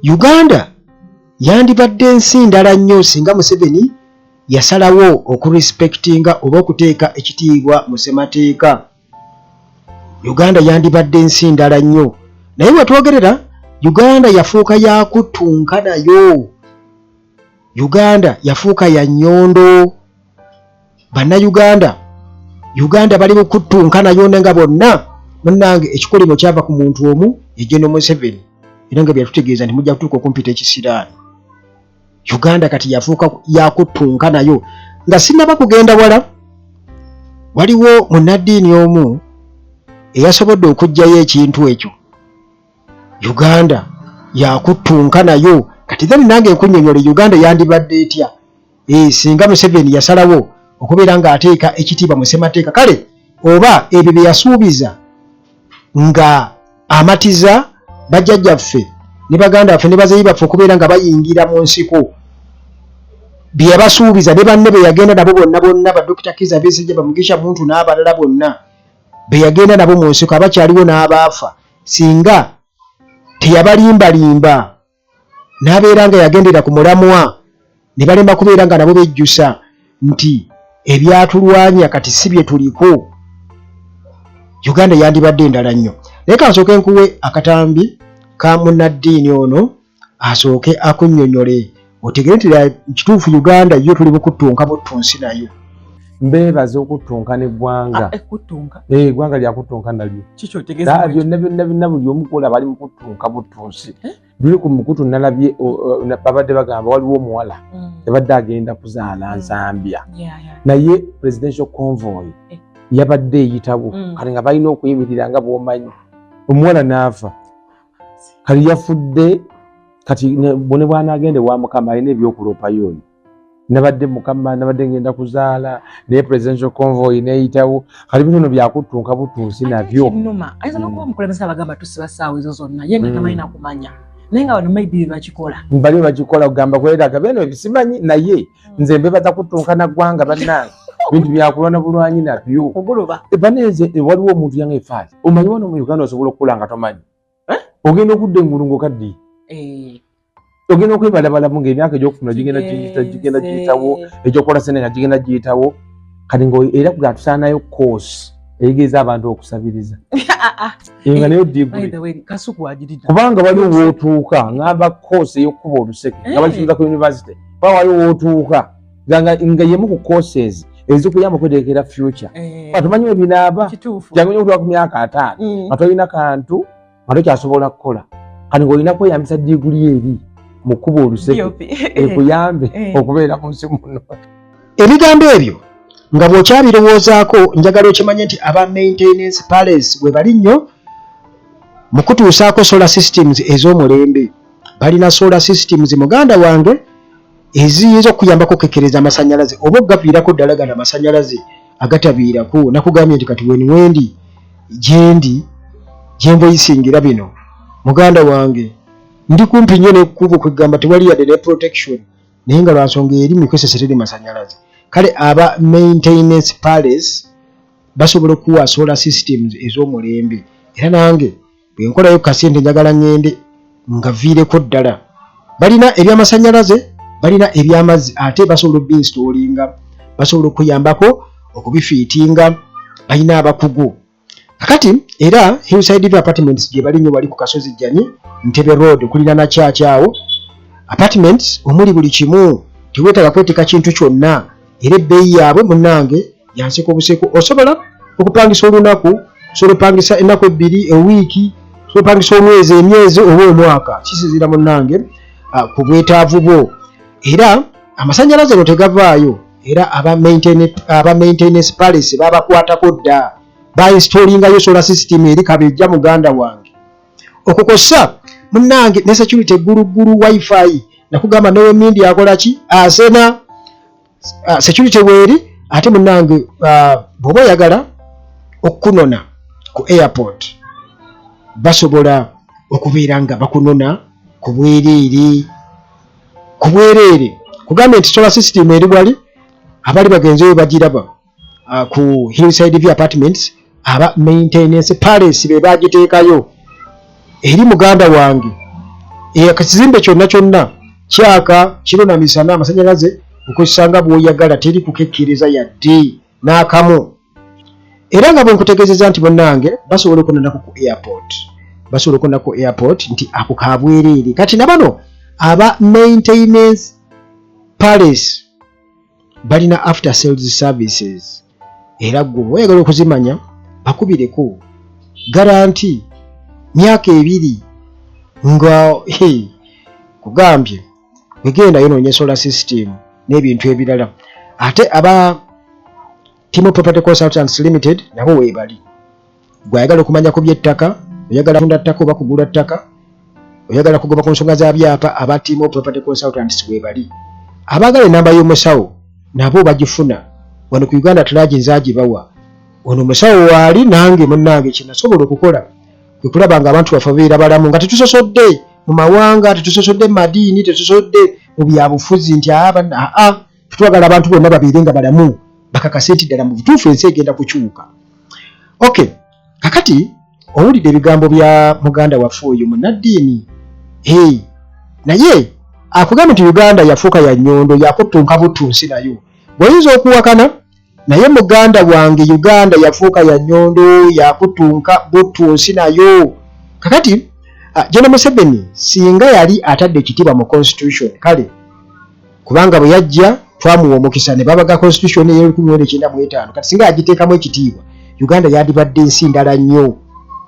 uganda yandibadde nsi ndala nnyo singa museveni yasalawo okurespektinga oba okuteeka ekitiibwa mu ssemateeka uganda yandibadde nsi ndala nnyo naye wetwogerera uganda yafuuka yakuttunka nayo uganda yafuuka ya nyondo bannayuganda uganda bali mukuttunka nayo ne nga bonna munange ekikolimo kyava ku muntu omu yegeno museveni era nga byatutegeeza nti mujja kutuuka okumpita ekisiraani uganda kati yafuuka yakuttunka nayo nga sinaba kugenda wala waliwo munaddiini omu eyasobodde okugjayo ekintu ekyo uganda yakuttunka nayo kati then nange nkunyonyole uganda yandibadde etya eh, singa museveni yasalawo okubeera nga ateeka ekitiibwa mu ssemateeka kale oba ebyo bye yasuubiza nga amatiza bajjajjaffe ne baganda baffe ne bazeyi baffe okubeera nga bayingira mu nsiko bye yabasuubiza ne banne be yagenda nabo bonna bonna badokita kiza besejja bamugisha muntu n'abalala bonna be yagenda nabo mu nsiko abakyaliwo n'abaafa singa teyabalimbalimba n'abeera nga yagendera ku mulamwa ne balemba kubeera nga nabo bejjusa nti ebyatulwanya kati si bye tuliko uganda yandibadde endala nnyo naye kansooke nkuwe akatambi ka munnaddiini ono asooke akunnyonnyole otegere nti kituufu uganda yo tuli bukuttunka buttu nsi nayo mbeebaza okuttunka n'eggwanga ah, eh, eh, eggwanga lyakuttunka nalyo byonna byonna byonna buli omukola bali mu kuttunka buttunsi eh? luli ku mukutu nalabye babadde bagamba waliwo omuwala yabadde mm. agenda kuzaala mm. nzambya naye presidential convoy yabadde eyitawo mm. kati nga balina okuyimirira nga bwomanyi omuwala n'afa kati yafudde kati bone bwanagende wa mukama alina ebyokuloopayo oyo nabadde mukama nabadde ngenda kuzaala naye presidential convoy neyitawo kati bino no byakuttunka butunsi nabyo numa ayinza nokuba hmm. omukulembeze abagamba tusiba saawa ezo zonna ye nga hmm. tamanyi nakumanya naye nga bano maybe bebakikola bali bakikola kugamba kweraga beno ebisimanyi naye hmm. nze mbebaza kuttunka naggwanga bannange bintu byakulwana bulwanyi nabyo oguloba ebaneze ewaliwo omuntu yange efaali omanyi wano mu uganda osobola okukula nga tomanyi eh? ogenda okudda engulu ngaokaddi eh. ogenda okwebalabalamu ngaemyaka egyokufuna gigenda gigenda giyitawo egyokukola sente nga gigenda giyitawo kati nga era kuga tusaanayo koosi eyigiriza abantu okusabiriza ah, ah. nga nayo digkubanga waliwo wotuuka ngamba koosi eyokukuba oluseke nga bakiuza ku univesity ba waliwo wotuuka nga yemu ku courses ezikuyamba okwetegekera future eh. atumanyi webinaaba jangu nyo okutuwa ku myaka ataano mm. nga tolina kantu nga tokyasobola kukola kati ngaolina kweyambisa diguli eri mu kkuba oluseke ekuyambe eh. okubeera mu nsi muno ebigambo ebyo nga bw'okyabirowoozaako njagala okimanye nti aba maintenance palace we bali nnyo mu kutuusaako solar systems ez'omulembe balina solar systems muganda wange eziyinza okuyambako okekkereza amasanyalaze oba okugaviirako ddala gano amasanyalaze agatabiirako nakugambye nti kati weni wendi gyendi gyemboyisingira bino muganda wange ndi kumpi nnyo nekukuba okwegamba tewali yadde ne protection naye nga lwansonga eri mikozesa teri masanyalaze kale aba maintenance palace basobola okuwa solar systems ez'omulembe era nange bwenkolayo kasente njagala ngende nga viireko ddala balina ebyamasanyalaze balina ebyamazzi ate basobola obinsitolinga basobola okuyambako okubifiitinga balina abakugu kakati era hillside view apartments gye bali nyo wali ku kasozi jjani ntebe road okulira na kyakyawo apartments omuli buli kimu tewetaaga kweteeka kintu kyonna era ebbeeyi yaabwe munnange yanseka obuseko osobola okupangisa olunaku osobola opangisa ennaku ebbiri ewiiki osobola opangisa omwezi emyezi oba omwaka kisinzira munnange ah, ku bwetaavu bwo era amasanyalaze no tegavaayo era aba maintenance palace babakwatako dda bainstolingayo sola system eri kabejja muganda wange okwo kwossa munange ne security gulugulu wifi nakugamba newe mindi akola ki asena uh, security weeri ate munange uh, bwoba oyagala okukunona ku airport basobola okubeera nga bakunona ku bwereere ku bwereere kugambye nti solar system eri wali abali bagenzeyo bagiraba uh, ku hillside view apartments aba maintenance palace be bagiteekayo eri muganda wange ekizimbe kyonna kyonna kyaka kiro na misana amasanyalaze okwesanga bwoyagala teri kukekkiriza yadde n'akamu era nga bwe nkutegeezeza nti bannange basobola okunanaku ku airport basobola okunana ku airport nti ako kabwereere kati na bano aba maintenance palace balina after sales services era gwe oyagala okuzimanya bakubireko garanti myaka ebiri nga hey, kugambye wegenda yononye solar system n'ebintu ebirala ate aba timo property consultants limited nabo webali gwe ayagala okumanya ku byettaka oyagala kunda ttaka oba kugula ttaka oyagala kugoba ku nsonga za byapa aba tiimu property consultants webali abaagala enamba y'omusawo nabo bagifuna wano ku uganda tulaagi nzagibawa ono omusawo waali nange munnange kyenasobola okukola kwe kulaba nga abantu baffe babeera balamu nga tetusosodde mu mawanga tetusosodde mu madiini tetusosodde mu byabufuzi nti aa twagala abantu bonna babeere nga balamu bakakase nti ddala mu butuufu ensi egenda kukyuka ok kakati owulidde ebigambo bya muganda waffe oyo munaddiini hey. naye akugambye nti uganda yafuuka ya nyondo yakuttunka buttunsi nayo bweyinza okuwakana Naye muganda wange Uganda yafuuka ya nyondo yakutunka buttu nsi nayo kakati ah, General Museveni singa yali atadde ekitiibwa mu constitution kale kubanga bwe yajja twamuwa omukisa ne babaga constitution eyo lukumi mwenda ekyenda mu etaano kati singa yagiteekamu ekitiibwa Uganda yadibadde nsi ndala nnyo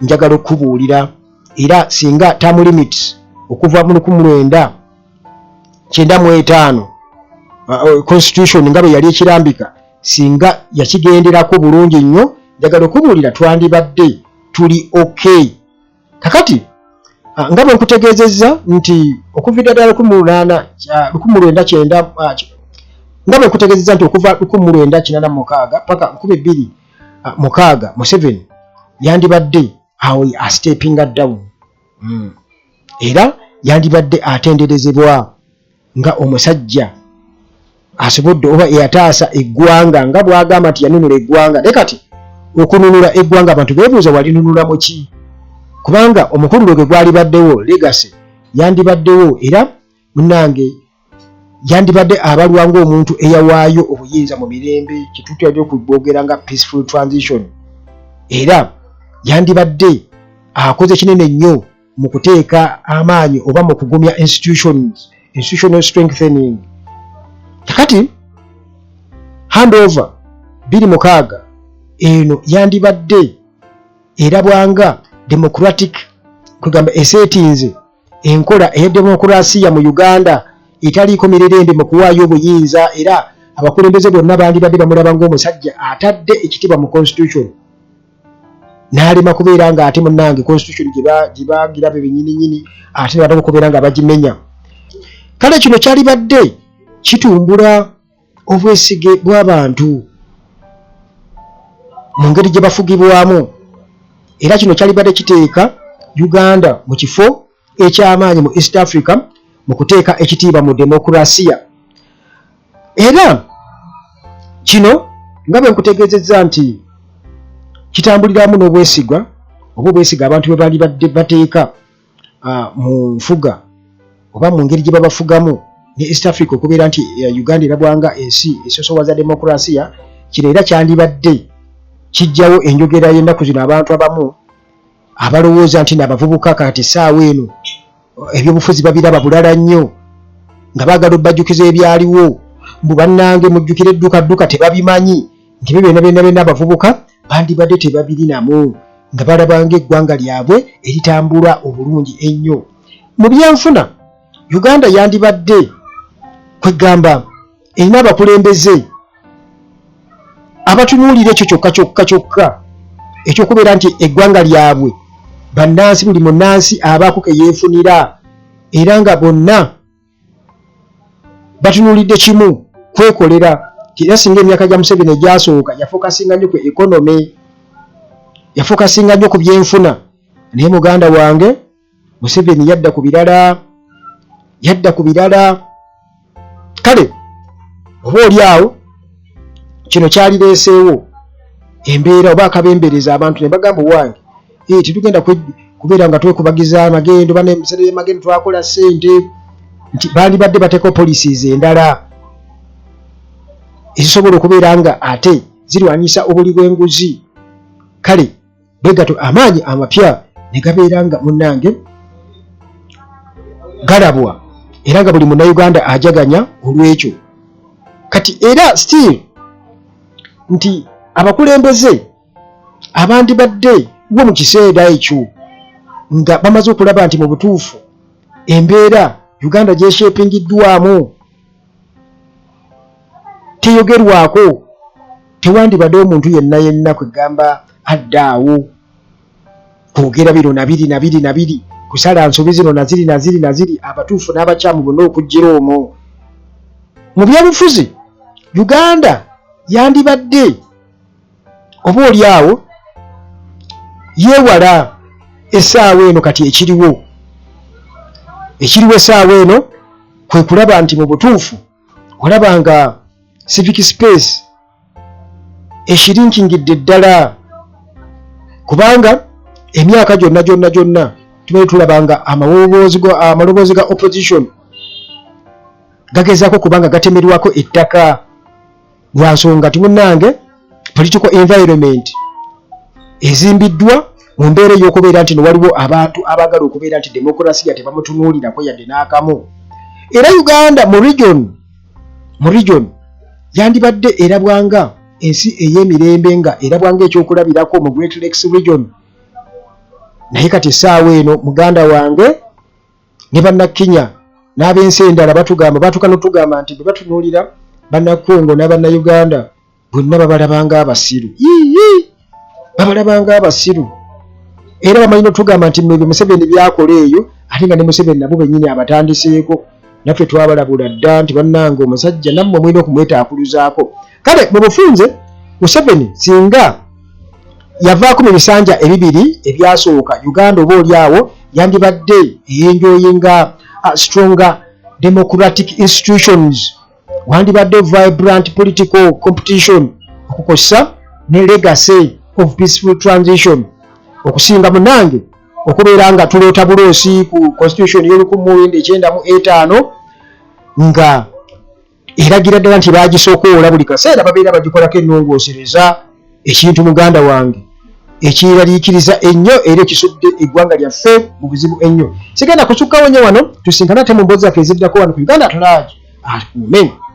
njagala okubuulira era singa term limits okuva mu lukumi mwenda kyenda mu etaano uh, uh, constitution nga bwe yali ekirambika singa yakigenderako bulungi nnyo njagala okubuulira twandibadde tuli ok kakati uh, nga bwe nkutegeezezza nti okuviira ddala lukumi lulaana lukumi lwenda kyenda nga bwe nkutegeezezza nti okuva lukumi lwenda kinaana mukaaga paka lukumi bbiri mukaaga museveni yandibadde awo astepinga down hmm. era yandibadde atenderezebwa nga omusajja asobodde oba eyataasa eggwanga nga bwagamba nti yanunula eggwanga naye kati okununula eggwanga abantu bebuuza walinunula muki kubanga omukulu lwe gwe gwalibaddewo legasi yandibaddewo era munange yandibadde abalwa ngaomuntu eyawaayo obuyinza mu mirembe kyetutera okubwogera nga peaceful transition era yandibadde akoze kinene nnyo mu kuteeka amaanyi oba mu kugumya institutions institutional strengthening kakati handover biri mukaaga eno yandibadde erabwanga democratic kwegamba esetinze Enkola eya demokulasiya mu Uganda etaliiko mirerembe mu kuwaayo obuyinza era abakulembeze bonna bandibadde bamulaba ng'omusajja atadde ekitibwa mu constitution n'alema kubeera ng'ate munnange constitution gye bagira be benyininyini ate ne bataka okubeera nga bagimenya kale kino kyalibadde kitumbula obwesige bw'abantu mu ngeri gye bafugibwamu era kino kyalibadde kiteeka uganda mu kifo eky'amaanyi mu east africa mu kuteeka ekitiibwa mu demokurasiya era kino nga bwe nkutegeezezza nti kitambuliramu n'obwesigwa oba obwesiga abantu bwe baalibadde bateeka uh, mu nfuga oba mu ngeri gye babafugamu ne east africa okubeera nti uh, uganda erabwanga ensi esosowaza demokurasiya kino era kyandibadde kijjawo enjogera y'ennaku zino abantu abamu abalowooza nti naabavubuka kati saawa eno ebyobufuzi babiraba bulala nnyo nga baagala obbajjukiza ebyaliwo mbu bannange mujjukire eddukadduka tebabimanyi nti byo byona byona byona abavubuka bandibadde tebabirinamu nga balabanga eggwanga lyabwe eritambula obulungi ennyo mu byenfuna uganda yandibadde kwegamba erina abakulembeze abatunuulira ekyo kyokka kyokka kyokka ekyokubeera nti eggwanga lyabwe bannansi buli munnansi abaako ke yeefunira era nga bonna batunulidde kimu kwekolera era singa emyaka gya museveni egyasooka yafokasinga nnyo ku economy yafokasinga nnyo ku byenfuna naye muganda wange museveni yadda ku birala yadda ku birala kale oba oli awo kino kyalireeseewo embeera oba akabembereza abantu ne bagamba owange eh, tetugenda kubeera nga twekubagiza amagendo bana emisere yamagendo twakola sente nti bandibadde bateekao policies endala ezisobola okubeera nga ate zirwanyisa obuli bw'enguzi kale bwegato amaanyi amapya ne gabeera nga munnange galabwa era nga buli munauganda ajaganya olw'ekyo kati era still nti abakulembeze abandibadde wo mu kiseera ekyo nga bamaze okulaba nti mu butuufu embeera uganda gyeshepingiddwamu teyogerwako tewandibadde omuntu yenna yenna kwegamba adda awo kwogera bino nabiri nabiri nabiri kusala nsobi zino naziri naziri naziri abatuufu n'abakyamu bonna okuggira omwo mu byobufuzi uganda yandibadde oba oli awo yewala esaawa eno kati ekiriwo ekiriwo esaawa eno kwe kulaba nti mu butuufu olaba nga civic space ekirinkingidde ddala kubanga emyaka gyonna gyonna gyonna tubaye tulaba nga amaloboozi ga opposition gagezaako kubanga gatemerwako ettaka lwansonga ti munange political environment ezimbiddwa mu mbeera ey'okubeera nti newaliwo abantu abaagala okubeera nti demokurasiya tebamutunuulirako yadde n'akamu era uganda mu region mu region yandibadde erabwanga ensi ey'emirembe nga erabwanga ekyokulabirako mu great lakes region naye kati essaawa eno muganda wange ne bannakenya n'ab'ensi endala batugamba batuka notugamba nti bwe batunuulira bannakongo n'abannayuganda bonna babalabanga abasiru yii babalabanga abasiru era bamanyi notugamba nti mwebyo museveni byakola eyo ate nga ne museveni nabo bennyini abatandiseeko naffe twabalabula dda nti bannanga omusajja nammwe mulina okumwetaakuluzaako kale mu bufunze museveni singa yavaako mu bisanja ebibiri ebyasooka uganda oba oli awo yandibadde eyenjoyinga uh, stronger democratic institutions wandibadde vibrant political competition okukosa ne legacy of peaceful transition okusinga munange okubeera nga tuloota buloosi ku constitution y'olukumu wenda ekyenda mu etaano nga eragira ddala nti baagisookoola buli kaseera babeera bagikolako ennongoosereza ekintu muganda wange ekiraliikiriza ennyo era ekisudde eggwanga lyaffe mu buzibu ennyo sigenda kusukkawo nnyo wano tusinkana ate mu mboozi zaffe eziddako wano ku uganda tulaagi akuume